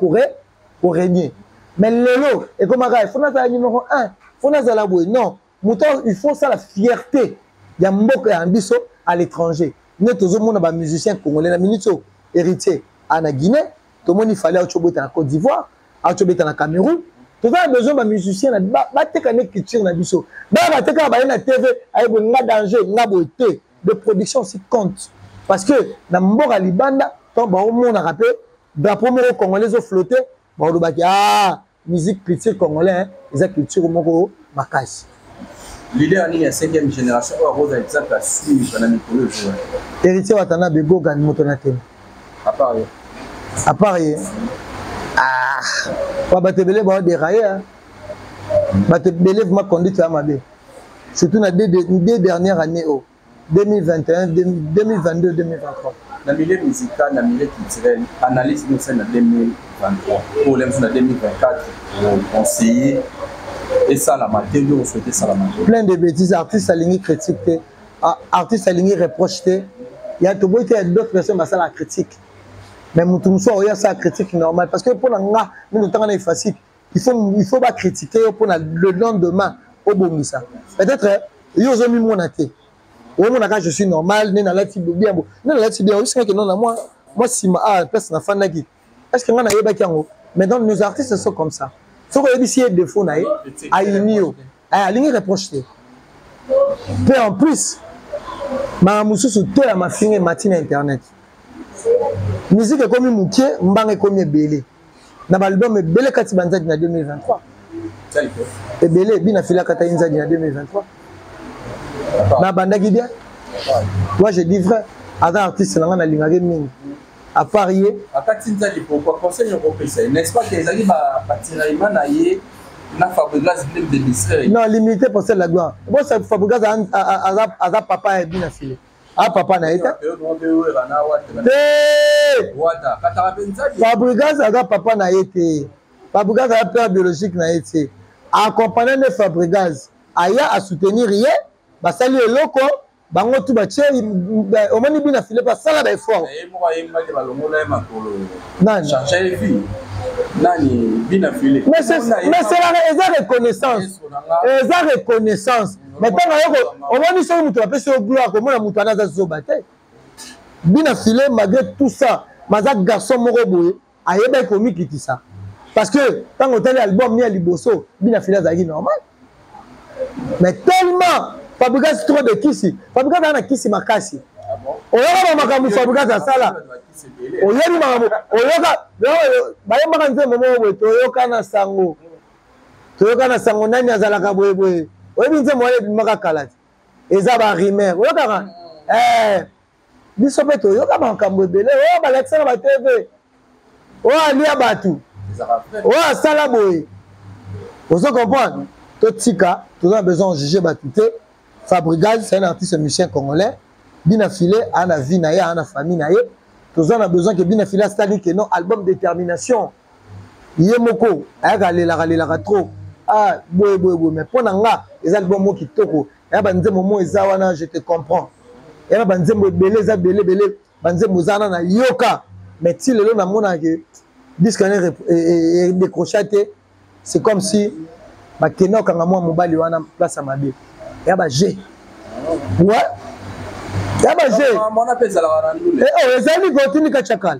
koregne mais lelo ekomaka fo nazala numero 1 fo nazala boye non moto il faut osala fierté ya mboka ya biso à l'étranger nde tozomona bamusicien congolais na minute oyo héritier a na guinée tomoni fali auti obeta na côte d'ivoire auti obeta na cameroun toza na besoin bamusicien bateka nde culture na biso baya batekaka baye na tv ayeboye nga danger nga boye te de production si compte parce que na mboka libanda ntango baomonaka mpe drapeau moko congolais ezoflotte baolobaki a ah, musique culture congolais eza culture moko makasi leader nini ya 5e génération oyo akozala exemple ya suivre na mikolo ezoya héritier watana begogan moto na teme apart ye apart ye ah, ba bato ebele bao deraye ah. bato ebele vraimen conduite ya mabe surtout na deux dernière année oyo oh. 2021 2022 2023 na milieu musical na milieu culturel analyse nioso na 2023 problème na 2024 conseiller esalama te nde osouhaite esalama te plein de bêtises artiste alingi critique te artiste alingi reproche te ya toboyi te ya d'autres personnes basala critique mais motu mosusu aoya asala critique normal parce que mpo na nga mino ntanga na efasique il faut, il faut bacritiquer yo mpona le lendemain obongisa peut-être yo ozomimona te omonaka je suis normal nde nalati bien bo nde nalati bien oyosingaki nona mwa mwa nsima a place nafandaki est ce que ngai nayebaki yango mais donc nos artistes sont comme ça soki oyebisi ye défaut na ye ayini yo alingi reproche te mpe en plus makambo mosusu to ya mafinga emati na internet miziki ekomi moke mbanga ekomi ebele na baalbum ebele kati banzadi na 2023 ebele bina filaka ta inzadi na 2023 nabandaki bien moi je dis vrai aza artiste na ngai nalingaki mingi à part ye akati nzadi pourquoi conseil yoko opesa ye n'est-ce pas que ezali batiraima na ye na fabrigas blem de misre non limité pour celle la gloire bo fabregas aza papa ya bina file a ah, papa na ye te fabrigas aza papa na ye te fabrigas aza père biologique na ye te accompagna nde fabrigas aya asoutenir ye basali eloko bango tu batie omoni bina file basala baeffort mais selaka eza reconnaissance eza reconnaissance mais ntango ayoko omoni soki moto bapesi yo gloire komona moto wana aza zoba te bina file malgré tout ça maza garçon moko boye ayebaki komikitisa parce que ntango otali album ni ya liboso bina file azalaki normal mais tellement fabrigas trop de kisi fabrigas azala na kisi makasi oyoka ba makambo fabrigas asala oyebi makambo oyoka bayembaka nzembo moko boye toyoka na sango toyoka na sango nani azalaka boyeboye oyebi nze moya ebimaka kala te eza barimer oyokaka eh, biso mpe toyoka makambo ebele oyo oh, balakisa na batv oyo oh, alia bato oyo oh, asala boye ozo comprendre totika toza na besoin ojuge bato te fabrigaz c'est un artiste musicien congolais bina file ana vie na ye ana famille na ye toza na besoin ke bina file asali ke non album détermination ye moko ayaka alelaka lelaka trop ah boye boye boye mais mpo na nga eza album moko kitoko ya banzembo mo eza wana je te comprends ya na banzembo ebele eza bele bele banzembo eza wana nayoka mais ti lelo namonaka ke disque wana e, e, e, edécrocha te c'est comme si bakenda kokanga mwa mobali wana place ya mabe ya baje ouais ya baje oyo oh, ezali kotindika chakala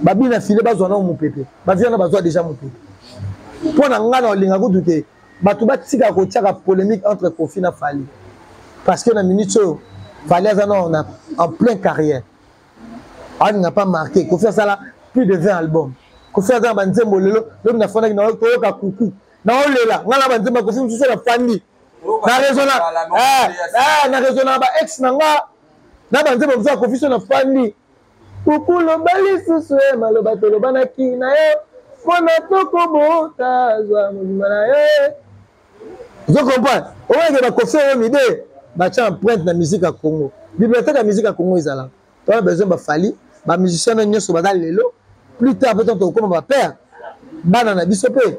babi na file bazwa nao mopepe bavi wana bazwa deja mopepe mpo na ngai na olinga kutu te bato batika kotiaka polémique entre kofi na fali parce que na minute oyo fali aza nao na en plein carrière alinga pas marqué kofi asala plus de 20 album kofi aza na banzembo lelo lobi nafandaki na koyoka kuku naolela ngai na banzembo ya kofi mosusu nafandi na raisona eh, eh, na raisona ba ex na nga na banzembo mosusu ya kofi so nafandi Kuku loba lisusu ye maloba tolobanaki na yo mpo na tokobota zwa mobimba na yo ozo comprendre omonake bakofi oyo mide batya empreinte na musique ya congo biblioteke ya musique ya congo ezalaka tona besoin bafali bamusicien na nyonso baza lelo plus tard mpe tokokoma bapere bana na biso mpe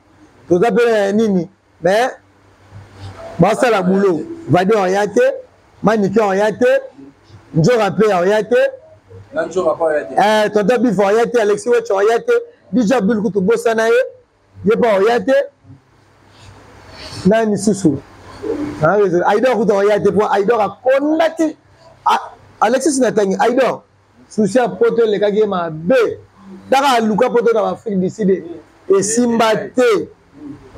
toza mpe na nini mais basala boulot vade oya te manike oya te njoka mpe oya te eh, tonton bif oya te alexi wech oya te dj abdul kutu bosana ye ye mpe oya te nani susu aidor kutu oya te mpo aidor akondaki alexis natangi aidor susi ya poto elekaki ye mabe kaka aluka poto na baafrike du sud esimba te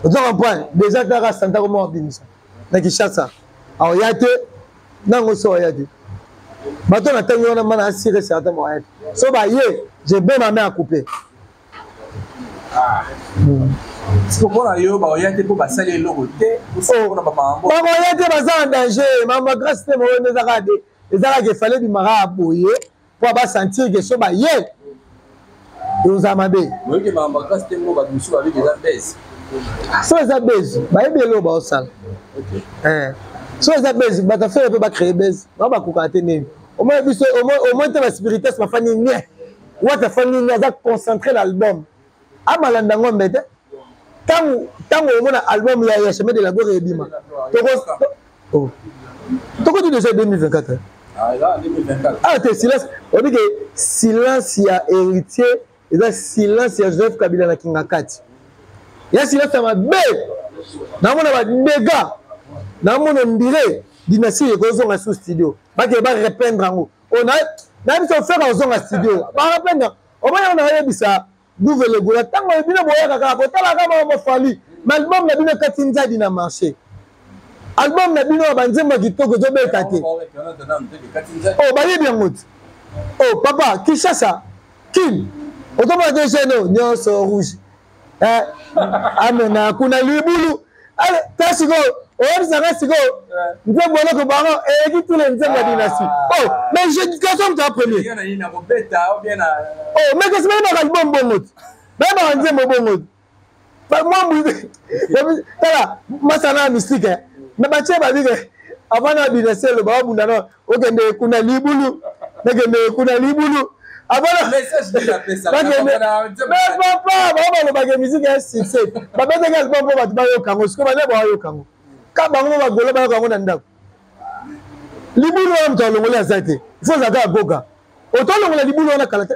ozo comprendre déjà kaka santa koma wabimisa na kinshasa aoya te nango so oya te bato na ntangi wana mana asire certain moya te so baye je be mame akupe mpona yo baoya te mpo basali eloko te bakoya te baza na danger mambo ya grace te moyo nde ezaka de ezalaka efale bimaka ya boye mpo abasentir ke so baye ekozala mabe so eza base bayebi eloo baosala eh. so eza base bato afere mpe bacree base bango bakokaka te nini omoi biso omoi te baspirites bafandi nie wata afandi nie aza concentre na album amalanda ngombe te ntango ntango omona album ya ya chemin de la gloire ebima oh. tokoti deja 2024 ah te silence oyebi ke silence ya héritier eza silence ya joseph kabila na kingakati ya silence ya mabe namona badega namona ondire dynastie ekozonga su studio bakee barependre yango oh, na biso ofeka ozonga studio barependre omoni yango nayebisa guve legola ntango oyo bino boyaka kaka kotala kaka mama bafali ma album na bino ekati nzadi na marché album na bino ya banzembo ya kitoko ezobeta te o oh, bayebi yango te o oh, papa kinshasa kin okomona te geno nyonso rouge eh, amena kuna libulu ta sikoyo oyebisaka sikoyo nzembo eloko bango eleki tule nzembo ya dinasti o mais jédication ta premier o mais kasi bayebaka libom bongo te bayebaka nzembo bongo te mwambu tala masana ya mystique na batie babike avant na dinasti eloba babunda na okende kuna libulu nakende kuna libulu papa bango balobaka miziki ya succès babetaki album mpo bato bayoka yango sikoyo bana bayoka yango ka bango bagolo bayoka yango na ndako libulu wana moto alongoli aza te fo ozalaka agoga oto alongola libulu wana kala te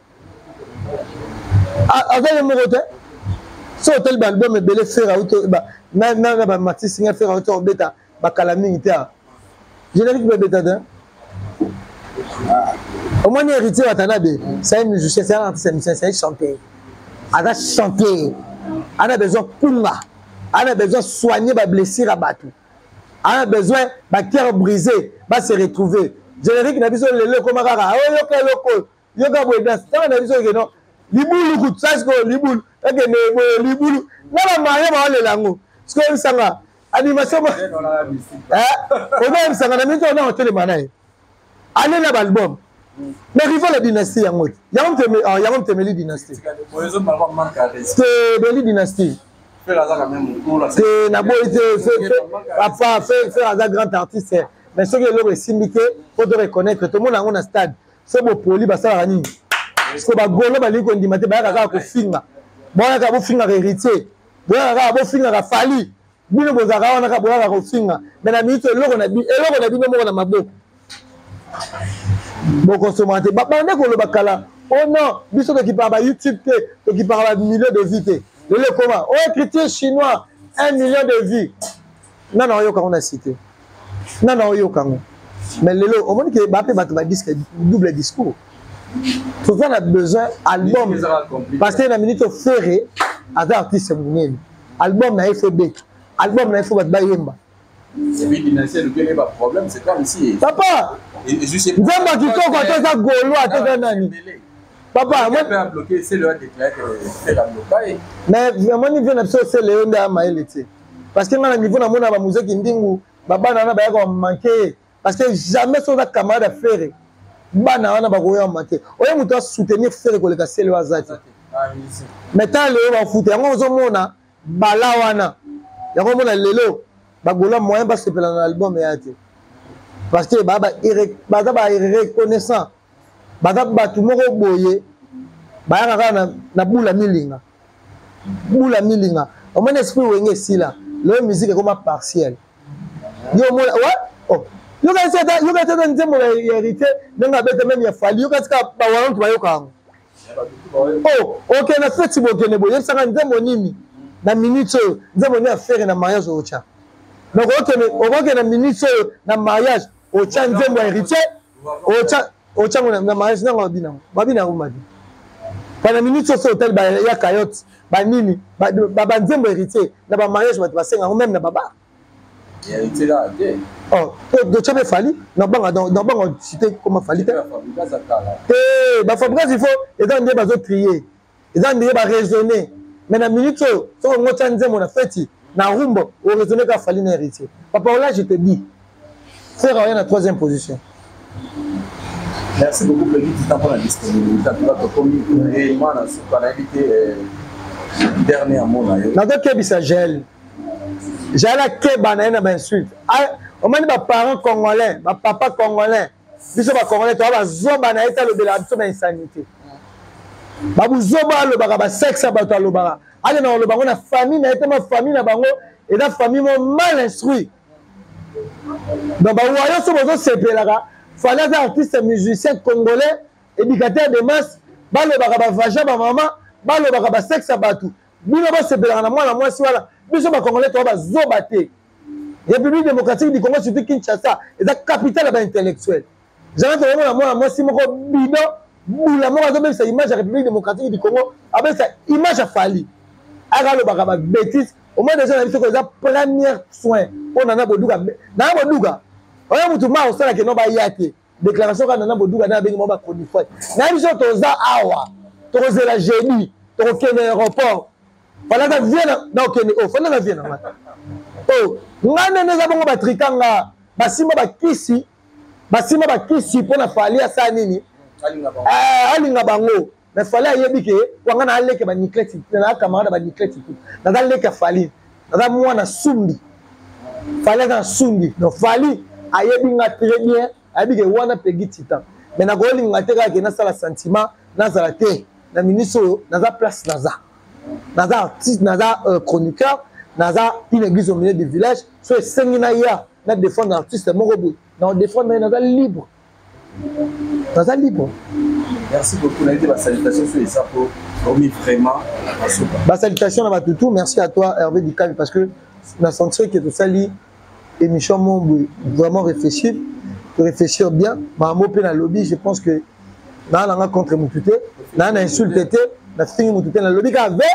aza ye moko te so otali baalbum ebele fere auti na bamatisi nga fere auti obeta bakala mingi te awa générique mpe ebeta te omoni héritier watanabe sai musicien sai artiste musicien sai chanteur aza chanteur ana besoin kunga ana besoin soigner bablessure ya bato ana besoin bacoeur brisé base retrouver générique na biso lelo ekoma kaka oyoka eloko yoka boye danse tanga na biso keno libulu kutu sa sikoyo libulu ekende boye libulu na bamario baolela yango sikoyo misanga animation oza misanga na mingi ona otelema na ye ale na baalbum na rival ya dynastie yango te yango mtemeli dynastie temeli dynastie te naboyi te papa fer aza grand artiste mais soki eloko esimbi te po to reconnaître tomona yango na stade so bopoli basalaka nini siko bagolo balingi kondima te bayaka kaka kofinga boyaka bofingaka héritier boyaka kaka bofingaka fali bino bozalaka wana kaka boyaka kofinga me na miniti eloko na bino moko na maboko bokosoma te babande koloba kala o oh non biso tokipaka ba youtube te tokipaka ba million de vie te lelo ekoma o oh, écriture chinois un million de vie nana oyoka yango na site nana oyoka yango mais lelo omoni ke bape bato ba disque double discours toza na besoin album parce que na minute ofere aza artiste monene album na ye fo ebeta album na ye fo bato bayemba papa nzambe ya kitoko ata eza golo ata eza nani papa mais omoni vie na biso osele yo nde ya mayele te parce que nga na niveau namona ba musée kindingu ba bana na bayaka ba manquer parce que jamais so na camarade ya ferre bana wana bakoya manquer oye moto a soutenir ferre koleka sele aza te mais ta lelo bafuta yango ozomona bala wana yango omona lelo bagola moyen basepela na album eya te parce que baza ba reconnaissant baza bato moko boye bayaka kaka na bula milinga bula milinga omoni esprit wenge esila loye musique ekoma partielle yo omona wa oh. yokasi ata yokasi ata nzembo ya hérité ndenge abeta meme ya fali yokasi ka bawalantu bayoka yango o oh, oke na feti bokende boye yebisaka nzembo nini na minute oyo nzembo nini afere na mariage otya donc okende na minute oyo na mariage otya nzembo ya hérité otya otyango na mariage nanga mabi nango mabi nango mabi bana minute soso otali ya cayote banini banzembo héritier na bamariage bato basenga yango meme na baba doce mpe fali nabanga nabanga cité koma fali te te bafabricas il faut eza nde bazotrie eza ndenge ba raisonner mais na minute oyo soki ongo tya nzembo na feti na rumba oraisonne ka fali na héritier papa ola je te dis frère oya na troisième position merci beaucoup pegi tuta mpona disponibilité tuka tokomi réellement na suka nayebi te euh, dernier mot na yo nazokebisa jael jael akeba na ye na bainsulte omoni baparent congolais bapapa congolais biso bacongolais toa bazoba na ye te alobelaka biso na insanité babuzoba alobaka basexe ya bato alobaka akenda koloba yango na famille na ye te ma famille na bango eza famille mo mal instruit donc bawayo so bozosepelaka fali aza artiste musicien congolais éducateur de masse balobaka bavaja bamama balobaka basexe ya bato bino bosepelaka na mwana mwasi wana biso bacongolais toa bazoba te république démocratique du congo surtout kinshasa eza capitale ya baintellectuel janate oyomona mwana mwasi moko bidon bula moko azobebisa image ya république démocratique du congo abebisa image ya fali aka alobaka babétise omoi deja na biso ko eza première soin mpo nana boduka nana boduka oyo motu ma osalaka eno baya te déclaration kaka nana boduga na abengi mwa ba chronifuati na biso toza awa tokozela jeudi tokokende aéroport falaka vie na okende o oh, fanda na vie na ngai o oh, ngai nene eza bongo batrika nga basimba bakisi basimba bakisi mpo na fali asala nini alinga bango eh, mais fali ayebi ke wanga na aleke ba nicleti na camarade ba nicleti tout naza leke fali naza mwana sumbi fali aza na sumbi donc fali ayebi nga très bien ayebi ke wana pegi titan mais nakolinga te kaka ke nasala sentiment nazala te na ministre oyo naza place naza naza artiste naza euh, chroniqueur naza une église au milieu du village so esengi na ya na défendre artiste moko boye na odéfendre ye naza libre naza libre merci beaucoup nayebi ba salutation so eza po omi vraiment ba salutation na bato tout merci à toi hervé dikavi parce que na sentir que tosali émission mo boye vraiment réfléchir réfléchir bien makambo mpe nalobi je pense que naa nanga contre motu te naa na insulte te nafingi motu te nalobi kaka ve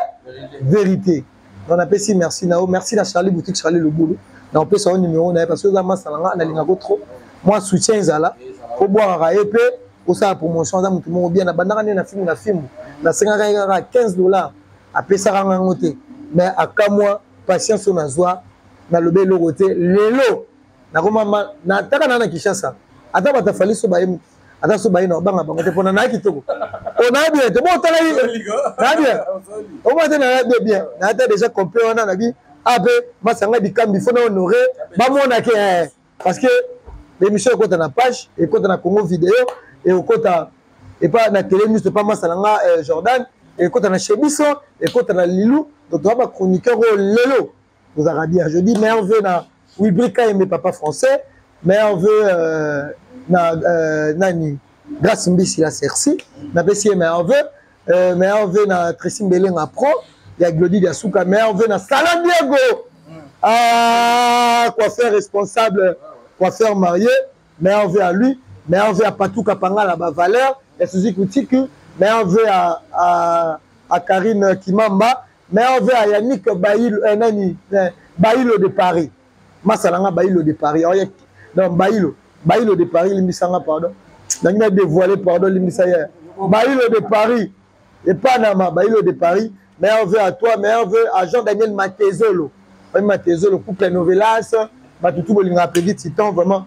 vérité Donc napesi merci na yo, merci na Charlie boutique Charlie Lubulu. Na opesa yo numéro na ye parce que oza masta na nga nalinga ko trop. Moi soutien ezala ko bwaka ye pe osala promotion aza moto moko bien na bandaka nde na fimbu na fimbu na sengaka ye kaka 15 dollars apesaka nga yango te mais akamwa patience oyo nazwa nalobi eloko te lelo nakomama nataka na na kinshasa ata batafaliso baye ata so baye na obanga bango te mpona naya kitoko oyo naya bien te botala ye naya bien omona te naya bien bien naya ta déjà complet wana nabi a mpe masanga dikambi fo na honore bamona ke eh, parce que l'émission ekota na page ekota na congo video ekokota epa na tele miso epa masa na nga eh, jordan ekota na chebiso ekota na lilu donc toza bachroniqueur oyo lelo ozalaka bien je dis meilleur vœu na wibri kaembe papa français meilleur vœu euh, na euh, nani grâce mbisi la cerci napesi ye meilleur vœu euh, meilleur vœu na tracy mbelenga pro ya glodi dia suka meilleur vœu na sala diego mm. ah, coiffeur responsable coiffeur marié meilleur vœu à lui meilleur vœu à patou kapangala bavaleur ya suzuki kutiki meilleur vœu à, à, à karine kimamba mais ove ya yannick bailo eh, nani eh, bailo de paris masala nga bailo de paris oye oh, donc bailo bailo de paris limbisa nga pardon nangi na dévoile pardon limbisa ye bailo de paris epanama bailo de paris meilleur vœu à toi meilleur vœu à jean daniel matezolo oye matezolo couple novelas batutu bolingaka pedi titan vraiment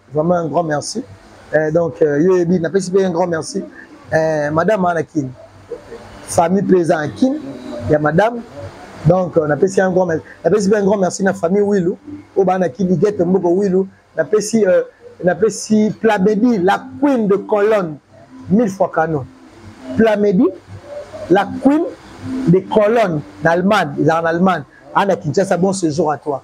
vraiment un grand merci eh, donc euh, yo yebi napesi mpe un grand merci eh, madame ana kin famille mpe eza na kin ya madame donc euh, napesi un grand merci napesi mpe un grand merci na famille wilu oyo baa na kin ligete mboko wilu napesi euh, napesi plamedi la queen de colonne mille fois canon plamedi la queen de colonne na allemagne ezalaka na allemagne ana kinshasa bon séjour à toi